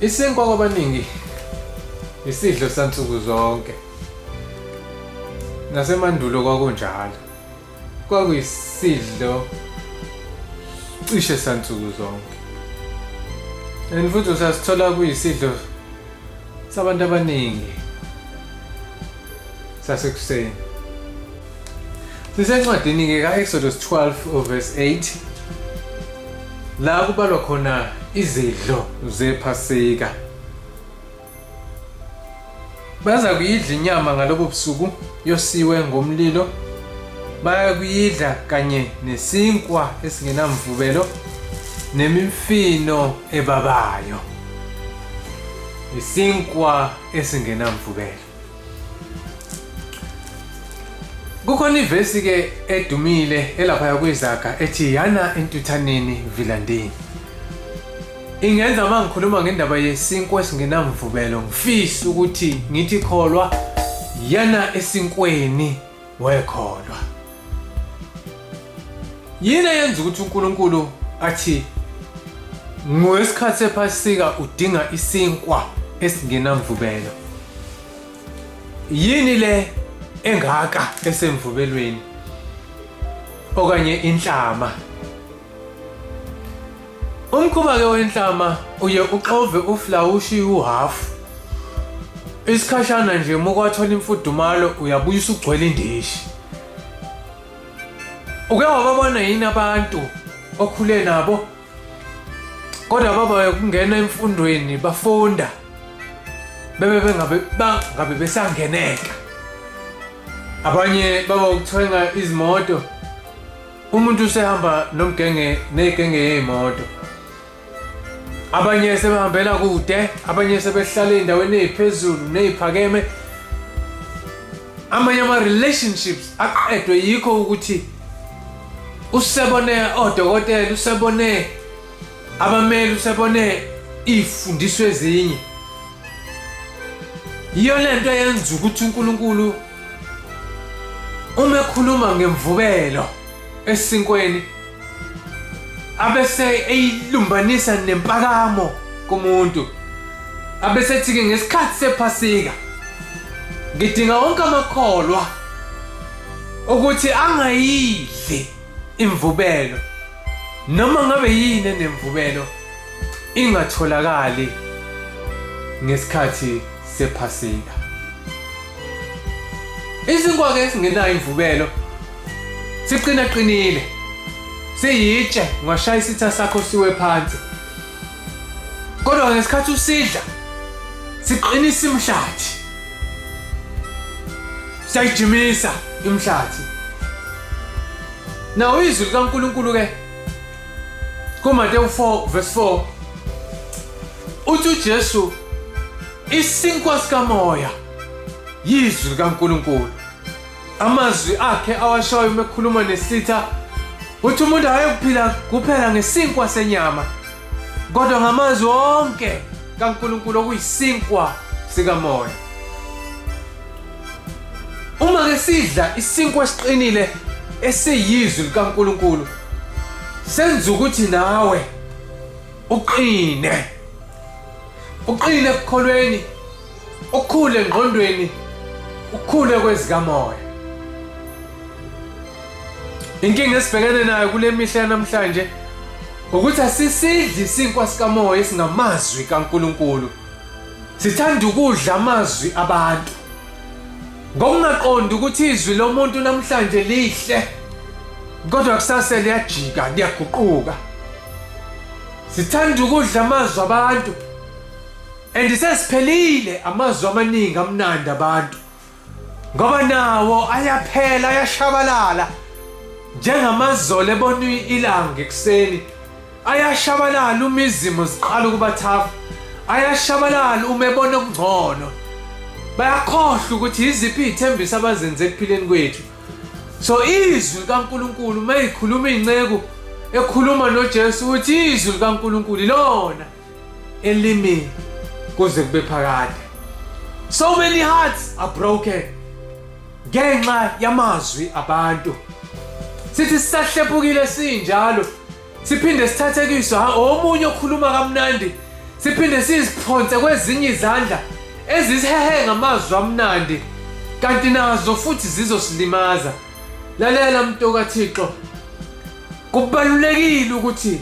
Isinkwa kwabaningi isidlo sansuku zonke. Nasemandulo kwakunjalo. Kwakuyisidlo cishe sansuku zonke. And futhi usasithola kuyisidlo sabantu abaningi sasekuseni. Sisencwadini-ke ka-Exodus 12 verse 8 la kubalwa khona izidlo zephasika baza kuyidla inyama ngalobo busuku yosiwe ngomlilo bayakuyidla kanye nesinkwa esingenamvubelo nemimfino ebabayo isinkwa esingenamvubelo kukhona ivesi ke edumile elaphaya kwizaga ethi yana entuthaneni vilandini ingenza uma ngikhuluma ngendaba yesinkwa esingenamvubelo ngifisa ukuthi ngithi kholwa yana esinkweni wekholwa yini eyenza ukuthi uNkulunkulu athi ngesikhathi sephasika udinga isinkwa esingenamvubelo yini le engaka esemvubelweni okanye inhlama Umkhuba-ke wenhlama uye uxove uflawushi uhhafu. Isikhashana nje uma ukwathola imfudumalo uyabuya usugcwele indishi. Uke wababona yini abantu okhule nabo? Kodwa baba ukungena emfundweni bafunda bebe bengabe bangabe besangeneka. Abanye baba ukuthenga izimoto umuntu usehamba nomgenge negenge yeyimoto abanye sebehambela kude abanye sebehlala endaweni eziphezulu neziphakeme amanye ama relationships aqedwe yikho ukuthi usebone odokotela usebone abameli usebone ifundiso ezinye yiyo lento yenza ukuthi uNkulunkulu Uma ekhuluma ngemvubelo esinkweni abese eyilumbanisa nempakamo kumuntu abese ethi-ke ngesikhathi sephasika ngidinga wonke amakholwa ukuthi angayidli imvubelo Noma ngabe yini enemvubelo ingatholakali ngesikhathi sephasika. Isinkwa ke singenayo imvubelo siqina qinile. Siyitshe ngashaya isitha sakho siwe phansi. Kodwa ngesikhathi usidla siqinisa imhlathi. Siyayijimisa imhlathi. Nawo izwi likaNkulunkulu ke kuMateyu 4 verse 4 uthi uJesu isinkwa sikamoya yizwi likaNkulunkulu Amazwi akhe awashayo uma ekhuluma nesitha uthi umuntu ayekuphila kuphela ngesinkwa senyama kodwa ngamazwi onke kaNkulunkulu okuyisinkwa sikamoya. Uma ke sidla isinkwa esiqinile esiyizwi likaNkulunkulu senza ukuthi nawe uqine. Uqine ekukholweni Ukukhule ngqondweni, ukukhule kwezikamoya. Inkinga esibhekene nayo kule mihla yanamhlanje ukuthi asisidli isinkwa sikamoya esingamazwi kaNkuluNkulu. Sithanda ukudla amazwi abantu. Ngokungaqondi ukuthi izwi lomuntu namhlanje lihle kodwa kusase liyajika liyaguquka. Sithanda ukudla amazwi abantu. and sesiphelile amazwi amaningi amnandi abantu ngoba nawo ayaphela ayashabalala njengamazolo ebona ilanga ekuseni ayashabalala uma izimo ziqala ukubathafa ayashabalala uma ebona okungcono bayakhohlwa ukuthi yiziphi iy'thembiso abazenze ekuphileni kwethu so izwi likankulunkulu uma ikhuluma iy'nceku ekhuluma nojesu ukuthi izwi likankulunkulu ilona elimi kuze kube phakade so many hearts are broken ngenxa yamazwi abantu sithi sisahlephukile sinjalo siphinde sithathekiswe ha omunye okhuluma kamnandi siphinde siziphonse kwezinye izandla ezisehe ngamazwi amnandi kanti nazo futhi zizosilimaza lalela mntu kathixo kubalulekile ukuthi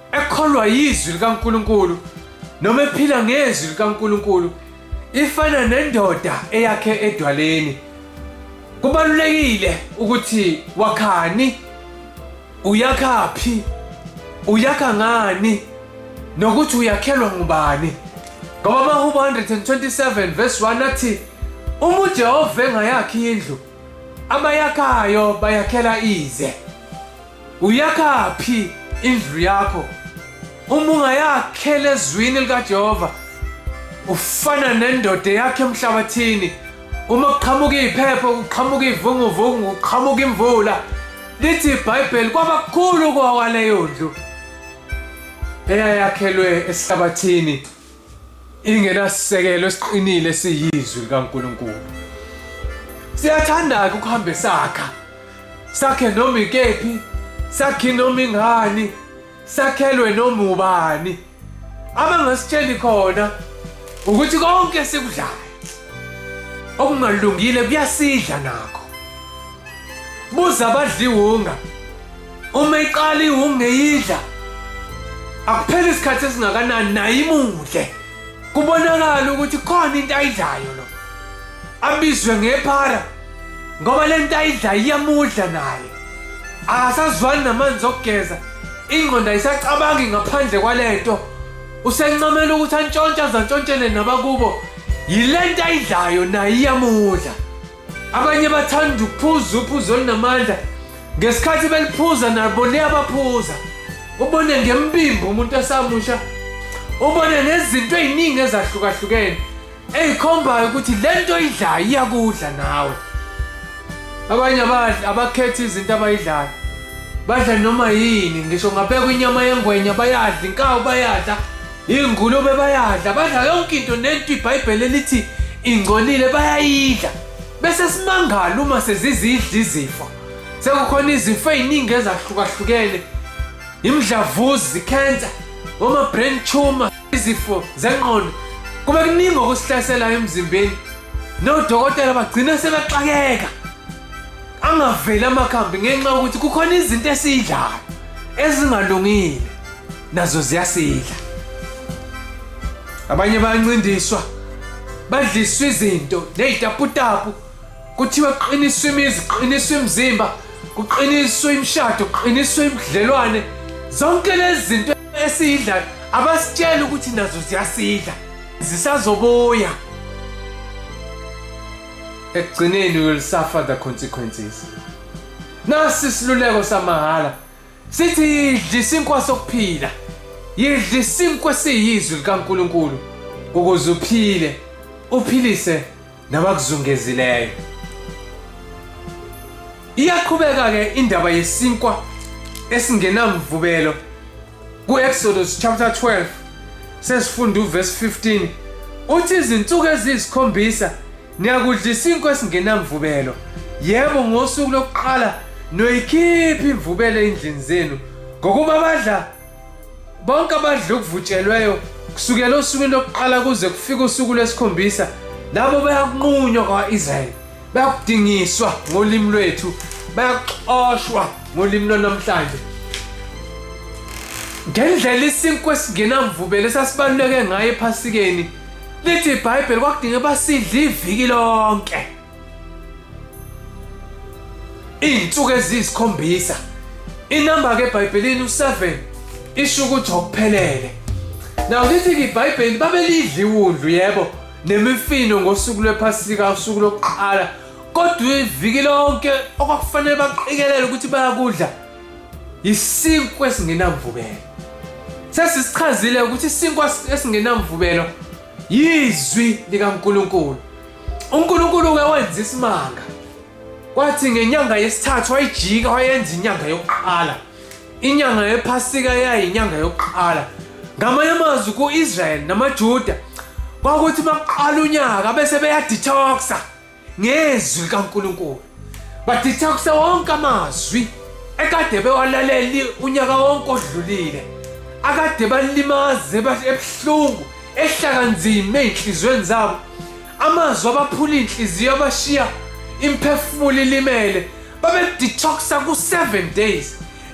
ekholwa yizwi likaNkuluNkulu noma ephila ngezwi likaNkuluNkulu ifana nendoda eyakhe edwaleni kubalulekile ukuthi wakhani uyakhaphi uyakha ngani nokuthi uyakhelwa ngubani ngoba amahubo 127 verse 1 athi uma ujehova engayakhi indlu abayakhayo bayakhela ize Uyakaphi indlu yakho? Uma ungayakhela ezwini likaJehova, ufana nendoda yakhe emhlabathini. Uma kuqhamuka iphepho, kuqhamuka ivunguvungu, kuqhamuka imvula, lithi iBhayibheli kwaba kukhulu kwawaleyo ndlu eyayakhelwe esihlabathini. ingenasisekelo esiqinile siyizwi likaNkulunkulu siyathanda-ke ukuhambe sakha sakhe noma ikephi sakhe noma ingani sakhelwe noma ubani abangasitsheli khona ukuthi konke esikudlayo okungalungile kuyasidla nakho buza abadliwunga uma iqala iwungeyidla akupheli isikhathi esingakanani naye imudle kubonakala ukuthi khona into ayidlayo lo abizwe ngephara ngoba le nto ayidlayo iyamudla naye akasazwani namanzi okugeza ingqondo ayisacabangi ngaphandle kwale nto usencamela ukuthi antshontshe azantshontshele nabakubo yile nto ayidlayo naye iyamudla abanye bathanda ukuphuza uphuzo olunamandla ngesikhathi beliphuza nabo liyabaphuza ubone ngembimbi umuntu esamusha ubone nezinto ey'ningi ezahlukahlukene ey'khombayo ukuthi le nto idlayo iyakudla nawe abanye abadli abakhethi izinto abayidlayo badla noma yini ngisho ngabekwa inyama yengwenya bayadla inkawu bayadla Ingulube bayadla, badla yonke into nento iBhayibheli elithi ingcolile bayayidla. Bese simangala uma sezizidla izifo. Sekukhona izifo eziningi ezahlukahlukene. Imdlavuzi, cancer, oma brain tumor, izifo zengqondo. Kube kuningi okusihlaselayo emzimbeni. Nodokotela bagcina sebeqakeka. Angaveli amakhambi ngenxa yokuthi kukhona izinto esidlayo ezingalungile. nazo ziyasidla abanye bayancindiswa badliswa izinto nezitaputapu kuthiwa kuqiniswa imizi kuqiniswa imizimba kuqiniswa imishado kuqiniswa imidlelwane zonke lezi zinto esiyidlayo abasitshela ukuthi nazo ziyasidla zisazobuya ekugcineni will suffer the consequences nasi isiluleko samahhala Sithi yidla isinkwa sokuphila. Yidla isinkwa siyizwi likaNkuluNkulu ukuze uphile, uphilise nabakuzungezileyo. Iyaqhubeka ke indaba yesinkwa esingenamvubelo kuExodus chapter 12 sesifunda uverse 15 uthi izinsuku eziyisikhombisa Niyakudla isinkwa esingenamvubelo. Yebo ngosuku lokuqala noyikhipha imvubelo endlini zenu ngokuba abadla bonke abadla okuvutshelweyo kusukela osukwini lokuqala kuze kufike usuku lwesikhombisa labo bayakunqunywa kwa-israyeli bayakudingiswa ngolimi lwethu bayaxoshwa ngolimi lwanamhlanje ngendlela isinkwa esingenamvubelo esasibaluleke ngayo ephasikeni Lithi iBhayibheli kwakudinga basidla iviki lonke. Izinsuku eziyisikhombisa. Inamba ke eBhayibhelini u7 isho ukuthi okuphelele. Nawu lithi ke iBhayibheli babelidla iwundlu yebo nemifino ngosuku lwephasika usuku lokuqala kodwa iviki lonke okwakufanele baqikelele ukuthi bayakudla Isinkwa esingenamvubelo. Sesisichazile ukuthi isinkwa esingenamvubelo yizwi likaNkulunkulu. UNkulunkulu ke wenza isimanga. Kwathi ngenyanga yesithathu wayijika wayenza inyanga yokuqala. Inyanga yePhasika yayinyanga yokuqala. Ngamanye amazwi ku-Israyeli namaJuda kwakuthi uma kuqala unyaka bese beyadetoxa ngezwi likaNkulunkulu baditha kuse wonke amazwi ekade bewalaleli unyaka wonke odlulile akade balimaze ebuhlungu ehlaka nzima ezinhlizweni zabo amazwi abaphula inhliziyo abashiya imphefumulo ilimele babedetoxa ku-7 days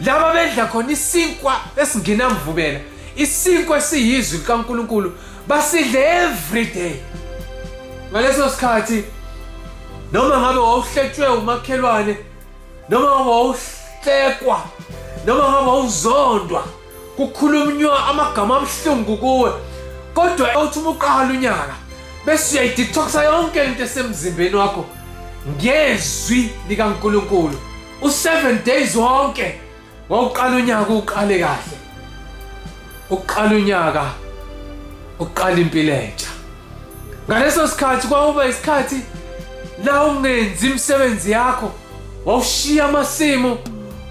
laba bedla khona isinkwa esingenamvubela isinkwa esiyizwi likaNkulunkulu basidle every day ngaleso sikhathi noma ngabe wawuhletshwe umakhelwane noma ngabe wawuhlekwa noma ngabe wawuzondwa kukhulunywa amagama abuhlungu kuwe kodwa uthi uma uqala unyaka bese uyayidetoxa yonke into esemzimbeni wakho ngezwi likaNkulunkulu u7 days wonke Wawuqala unyaka uqale kahle. Uqala unyaka uqala impilo entsha. Ngaleso sikhathi kwawuba isikhathi la ungenzi imisebenzi yakho. Wawushiya amasimu,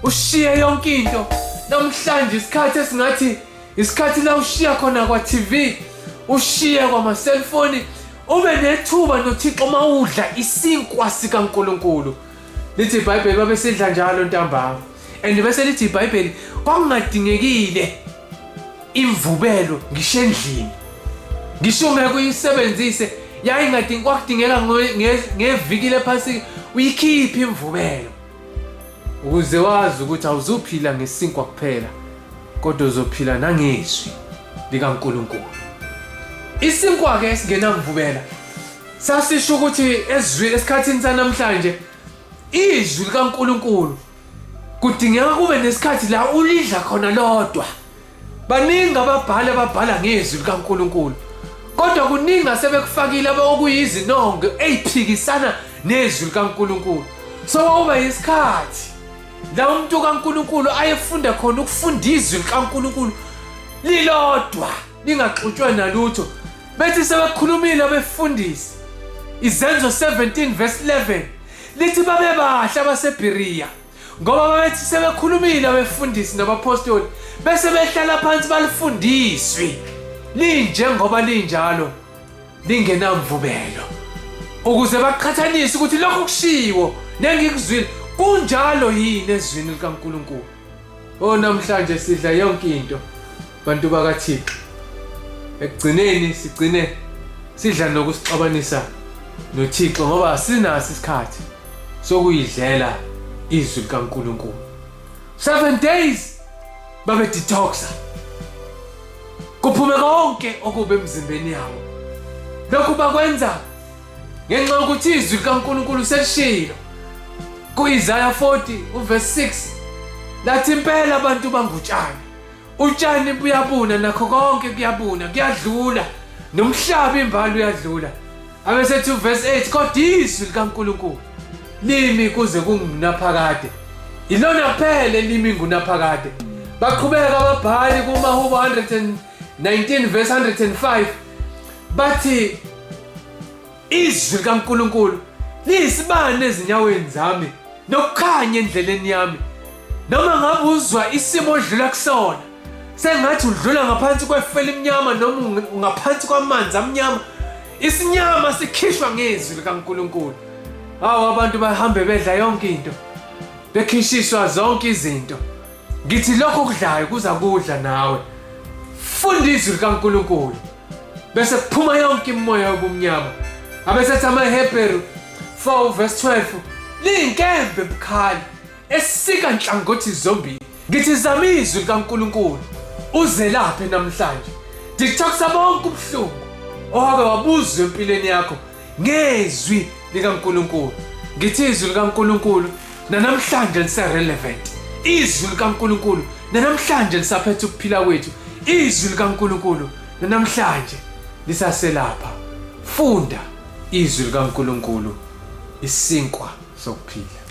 ushiye yonke into. Namhlanje isikhathi esingathi isikhathi la ushiya khona kwa TV, ushiye kwama cellphone, ube nethuba noThixo mawudla isinkwa sikaNkuluNkulu. lithi ibhayibheli babesidla njalo ntambama and bese lithi ibhayibheli kwakungadingekile imvubelo ngisho endlini ngisho ngeke uyisebenzise yayingadingi kwakudingeka ngeviki lephasika uyikhiphe imvubelo ukuze wazi ukuthi awuzuphila ngesinkwa kuphela kodwa uzophila nangezwi likaNkuluNkulu isinkwa-ke esingenamvubela Sasisho ukuthi ezwi esikhathini sanamhlanje izwi likaNkuluNkulu kudingeka kube nesikhathi la ulidla khona lodwa. Baningi ababhali ababhala ngezwi likaNkuluNkulu. Kodwa kuningi asebekufakile abakuyizinongo eziphikisana nezwi likaNkuluNkulu. So wawuba isikhathi la umuntu kaNkuluNkulu ayefunda khona ukufunda izwi likaNkuluNkulu lilodwa. ningaxutshwa nalutho bethi sebekhulumile abefundisi izenzo 17 verse 11 lithi babebahle abasebhiriya ngoba babethi sebekhulumile abefundisi nabaphostoli bese behlala phansi balifundiswi linjengoba linjalo lingenamvubelo ukuze baqhathanise ukuthi lokho kushiwo nengikuzwile kunjalo yini ezwini likaNkuluNkulu o namhlanje sidla yonke into bantu bakathixo ekugcineni sigcine sidla nokusixabanisa nothixo ngoba asinaso isikhathi sokuyidlela izwi likankulunkulu seven days babedetoxa kuphume konke okubi emzimbeni yabo lokhu bakwenza ngenxa yokuthi izwi likankulunkulu selishilo kuIsaya 40 uverse 6 lathi impela abantu bangutshani utshani buyabuna nakho konke kuyabuna kuyadlula nomhlaba imbali uyadlula abesethi uverse 8 kodwa izwi likaNkulunkulu limi kuze kungunaphakade yilona kuphela elimi ngunaphakade baqhubeka ababhali kumahubo 119 verse 105 bathi izwi likaNkulunkulu liyisibani ezinyaweni zami nokukhanya endleleni yami noma ngabe uzwa isimo odlula kusona sengathi udlula ngaphansi kwefu elimnyama noma unge- ngaphansi kwamanzi amnyama isinyama sikhishwa ngezwi likankulunkulu hawu abantu bahambe bedla yonke into bekhishiswa zonke izinto ngithi lokho okudlayo kuza kudla nawe funda izwi likankulunkulu bese kuphuma yonke imimoya yobumnyama abesethi amahebheru 4 verse 12 liyinkembe bukhali esika nhlangothi zombili ngithi zama izwi likankulunkulu uzelaphe namhlanje ndithokusa bonke ubuhlungu owabe wabuzwa empilweni yakho ngezwi likaNkulunkulu ngithi izwi likaNkulunkulu nanamhlanje lise-relevant izwi likaNkulunkulu nanamhlanje lisaphethe ukuphila kwethu izwi likaNkulunkulu nanamhlanje lisaselapha funda izwi likaNkulunkulu isinkwa sokuphila